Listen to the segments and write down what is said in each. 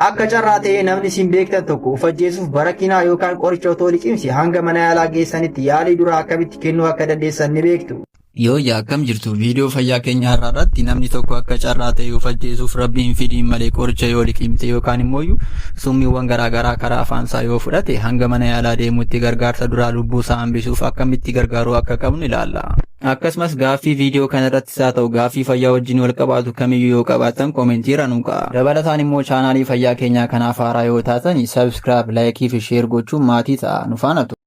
Akka carraa ta'ee namni isin beektan tokko of ajjeesuuf barakinaa yookaan qoricha otoo liqimsi hanga mana yaalaa geessanitti yaalii duraa akkamitti kennuu akka dandeessan ni beektu. Yooyyaa akkam jirtu viidiyoo fayyaa keenya har'aa irratti namni tokko akka carraa ta'e of ajjeesuuf rabbi hin fidiin malee qoricha yoo liqimte yookaan immoo summiiwwan garaagaraa karaa afaansaa yoo fudhate hanga mana yaalaa deemutti gargaarsa duraa lubbuu isaa hambisuuf akkamitti gargaaruu akka qabnu ilaalla. Akkasumas gaaffii viidiyoo kana haa ta'u gaaffii fayyaa wajjin wal qabaatu kamiyyuu yoo qabaattan komentii irra nuu ka'a. Dabalataan immoo chaanaalii fayyaa keenyaa kanaaf haaraa yoo taatani subscribe, like fi share gochuun maatii ta'a. Nu faana tura.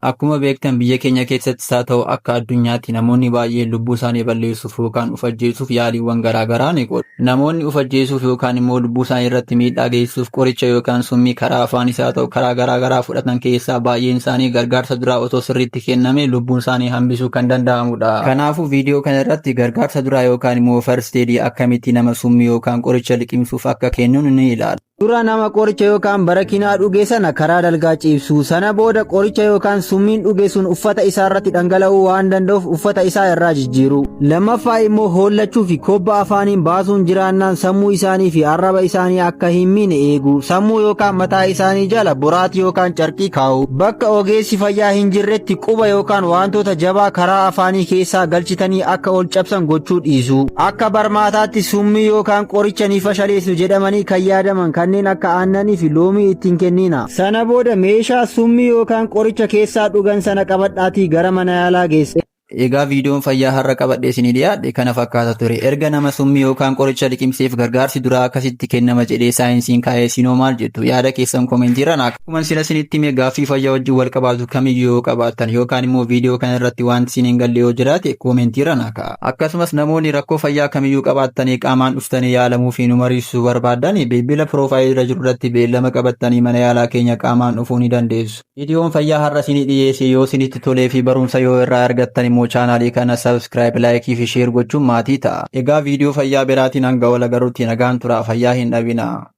Akkuma beektan biyya keenya keessattis haa ta'u akka addunyaatti namoonni baay'een lubbuu isaanii balleessu. yookaan of ajjeesuuf yaaliiwwan garaa garaa ni godhu. Namoonni of ajjeesuuf yookaan immoo lubbuu isaanii irratti miidhaa geessisuuf qoricha yookaan summii karaa afaanis haa ta'u karaa garaa garaa fudhatan keessaa baay'een isaanii gargaarsa duraa otoo sirriitti kenname lubbuun isaanii hambisuu kan danda'amudha. Kanaafuu viidiyoo kana irratti gargaarsa duraa yookaan immoo first aid akkamitti nama summii yookaan qoricha liqimsuuf akka kenninu ni ilaalla. Dura nama qoricha yookaan barakinaa dhuge sana karaa dalgaa ciibsuu. Sana booda qoricha yookaan summiin dhuge sun uffata isaa irratti dhangala'uu waan danda'uuf uffata isaa irraa jijjiiruu. Lammaffaa immoo hoollachuu fi kobba afaaniin baasuun jiraannaan sammuu isaanii fi arraba isaanii akka hin miine eeguu. Sammuu yookaan mataa isaanii jala boraatii yookaan carqii kaa'uu. Bakka ogeessi fayyaa hin jirretti quba yookaan wantoota jabaa karaa afaanii keessaa galchitanii akka ol cabsan gochuu dhiisuu. Akka barmaataatti summii yookaan qoricha ni fashaleessu jedhamanii kan yaadaman kanneen akka aannanii fi loomii itti hin kenniina. Sana booda meeshaa summii yookaan qoricha keessaa dhugan sana qabadhaatii gara mana yaalaa geessaa. Egaa viidiyoon fayyaa har'a qabadhe isinii dhiyaadhe kana fakkaata ture. Erga nama summii yookaan qoricha liqimseef gargaarsi duraa akkasitti kennama jedhee saayinsiin kaa'ee isinoo maal jettu? Yaada keessan koomentiirra naaf Akkuma sila isinitti hime gaaffii fayyaa wajjin wal qabaatu kamiyyuu yoo qabaattan yookaan immoo viidiyoo kana irratti wanti isin hin galle yoo jiraate koomentii irra naa ka'a. Akkasumas namoonni rakkoo fayyaa kamiyyuu qabaattanii qaamaan dhuftanii yaalamuu fi nu mariisisuu barbaaddan bilbila piroofaayilii irra jiru irratti beellama qabattanii mana yaalaa keenya qaamaan dhufuu ni dandeessu. Viidiyoon fayyaa har'a isinii dhiyeesse yoo isinitti tolee fi barumsa yoo irraa argattan immoo chaanaalii kana subscribe, like fi share gochuun maatii ta'a. Egaa viidiyoo fayyaa biraatiin hanga wal agarrutti nagaan turaa fayyaa hin dhabinaa.